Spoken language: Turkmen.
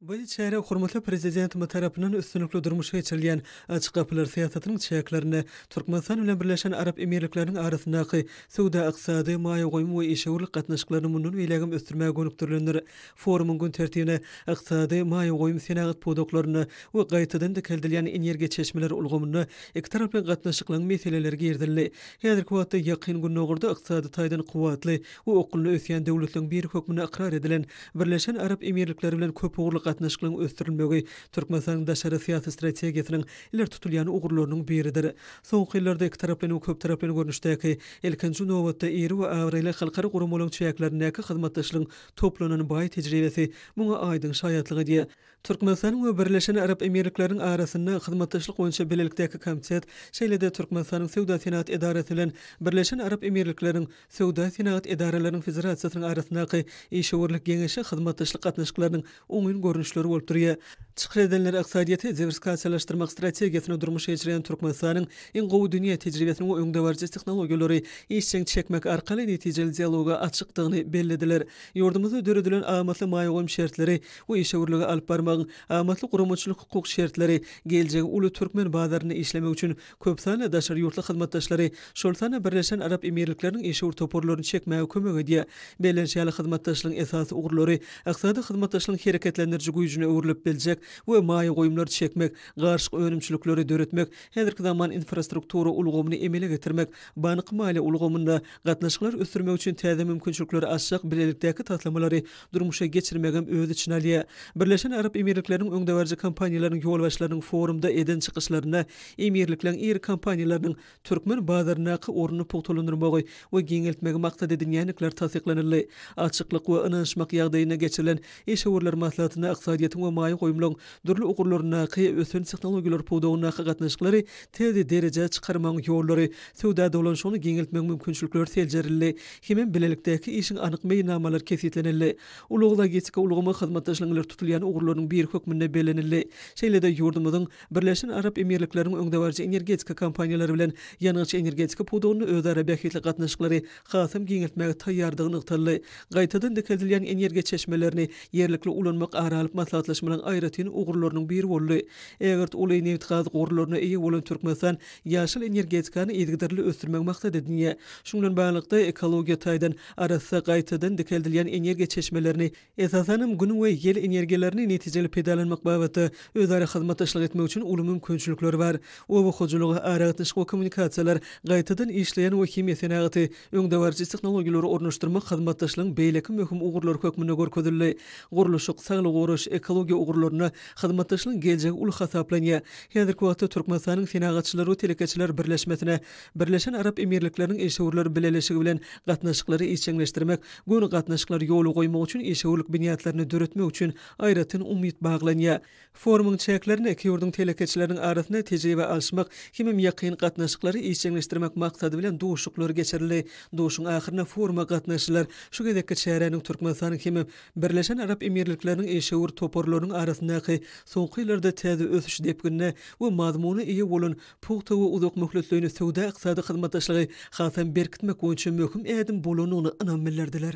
Bu çäre hormatly Prezidentimiz tarapyndan üstünlikli durmuşa geçirilýän Açyk gapylar syýasatynyň çäklerinde Türkmenistan bilen Birleşen Arap Emirlikleriniň arasyndaky söwda-ykdysady, maýa goýum we işewürlik gatnaşyklaryny mundan beýlägem ösdürmäge gönükdirilendir. Forumyň gün tertibine ykdysady, maýa goýum, senagat pudaklarynda we gaýtadan dikeldilýän energiýa çeşmeleri ulgamynda ikitaraply gatnaşyklaryň meseleleri girizildi. Häzirki wagtda Ýakyn Gündogarda ykdysady taýdan kuwwatly we okgunly ösýän döwletleriň biri hökmünde ykrar edilen Birleşen Arap Emirlikleri bilen köpugurly gatnaşyklaryň ösdürilmegi Türkmenistanyň daşary syýasy strategiýasynyň ileri tutulýan ugurlarynyň biridir. Soňky ýyllarda ikitaraplaýyn we köptaraplaýyn görnüşdäki, ilkinji nobatda, iri we abraýly halkara guramalaryň çäklerindäki hyzmatdaşlygyň toplanan baý tejribesi muňa aýdyň şaýatlyk edýär. Türkmenistanyň we Birleşen Arap Emirlikleriniň arasynda hyzmatdaşlyk boýunça bilelikdäki komitet, şeýle-de Türkmenistanyň Söwda-senagat edarasy bilen Birleşen Arap Emirlikleriniň Söwda-senagat edaralarynyň federasiýasynyň arasyndaky işewürlik geňeşi hyzmatdaşlyk gatnaşyklarynyň oňyn görnüşleri bolup durýar. Çykyş edenler ykdysadyýeti diwersikasiýalaşdyrmak strategiýasyny durmuşa geçirýän Türkmenistanyň iň gowy dünýä tejribesini we öňdebaryjy tehnologiýalary işjeň çekmek arkaly netijeli dialoga açykdygyny bellediler. Ýurdumyzda döredilen amatly maýa goýum şertleri Bu işewürligi alyp barmagyň amatly guramaçylyk-hukuk şertleri geljegi uly türkmen bazarynda işlemek üçin köp sanly daşary ýurtly hyzmatdaşlary, şol sanda Birleşen Arap Emirlikleriniň işewür toparlaryny çekmäge kömek edýär. Bellenşi ýaly, hyzmatdaşlygyň esasy ugurlary ykdysady hyzmatdaşlygyň hereketlendiriji güýjüne öwrülip biljek we maýa goýumlary çekmek, garyşyk önümçilikleri döretmek, häzirki zaman infrastruktura ulgamyny emele getirmek, bank-maliýe ulgamynda gatnaşyklary ösdürmek üçin täze mümkinçilikleri açjak bilelikdäki taslamalary durmuşa geçirmegem öz içine alýar. Birleşen Arap Emirlikleriniň öňdebaryjy kompaniýalarynyň ýolbaşçylarynyň forumda eden çykyşlarynda Emirlikleň iri kompaniýalarynyň türkmen bazaryndaky ornuny pugtalandyrmagy we giňeltmegi maksat edinýändikleri tassyklanyldy. Açyklyk we ynanyşmak ýagdaýynda geçirilen işewürler maslahatynda ykdysadyýetiň we maýa goýumlaryň dürli ugurlaryndaky ösen tehnologiýalar pudagyndaky gatnaşyklary tiz derejä çykarmagyň ýollary, söwda dolanşygyny giňeltmegiň mümkinçilikleri seljerildi hemem bilelikdäki işiň anyk meýilnamalary kesgitlenildi. Ulag-logistika ulgamy hyzmatdaşlygyň ileri tutulýan ugurlarynyň biri hökmünde bellenildi. Şeýle-de ýurdumyzyň Birleşen Arap Emirlikleriniň öňdebaryjy energetika kompaniýalary bilen ýangyç-energetika pudagynda özara bähbitli gatnaşyklary hasam giňeltmäge taýýardygy nygtaldy. Gaýtadan dikeldilýän energiýa çeşmelerini ýerlikli ulanmak ara alyp maslahatlaşmalaryň aýratyn ugurlarynyň biri boldy. Ägirt uly nebitgaz gorlaryna eýe bolan Türkmenistan ýaşyl energetikany yzygiderli ösdürmegi maksat edinýär. Şuň bilen baglylykda, ekologiýa taýdan arassa gaýtadan dikeldilýän energiýa çeşmelerini esasan hem Gün we ýel energiýalaryny netijeli peýdalanmak babatda özara hyzmatdaşlyk etmek üçin uly mümkinçilikler bar. Oba hojalygy, aragatnaşyk we kommunikasiýalar, gaýtadan işleýän we himiýa senagaty, öňdebaryjy tehnologiýalary ornaşdyrmak hyzmatdaşlygyň beýleki möhüm ugurlary hökmünde görkezildi. Gurluşyk, saglygy goraýyş, ekologiýa ugurlarynda hyzmatdaşlygyň geljegi uly hasaplanýar. Häzirki wagtda Türkmenistanyň Senagatçylar we telekeçiler birleşmesine Birleşen Arap Emirlikleriniň Işewürler Bileleşigi bilen gatnaşyklary işjeňleşdirmek, göni gatnaşyklary ýola goýmak üçin işewürlik binýatlaryny döretmek üçin aýratyn umyt baglanýar. Forumyň çäklerinde iki ýurduň telekeçileriniň arasynda tejribe alyşmak hemem ýakyn gatnaşyklary işjeňleşdirmek maksady bilen duşuşyklar geçirildi. Duşuşygyň ahyrynda foruma gatnaşyjylar şu gezekki çäräniň Türkmenistanyň hemem Birleşen Arap Emirlikleriniň işewür toparlarynyň arasyndaky soňky ýyllarda täze ösüş depginine we mazmuna eýe bolan pugta we uzak möhletleýin söwda-ykdysady hyzmatdaşlygy hasam berkitmek boýunça möhüm ädim bolandygyna ynam bildirdiler.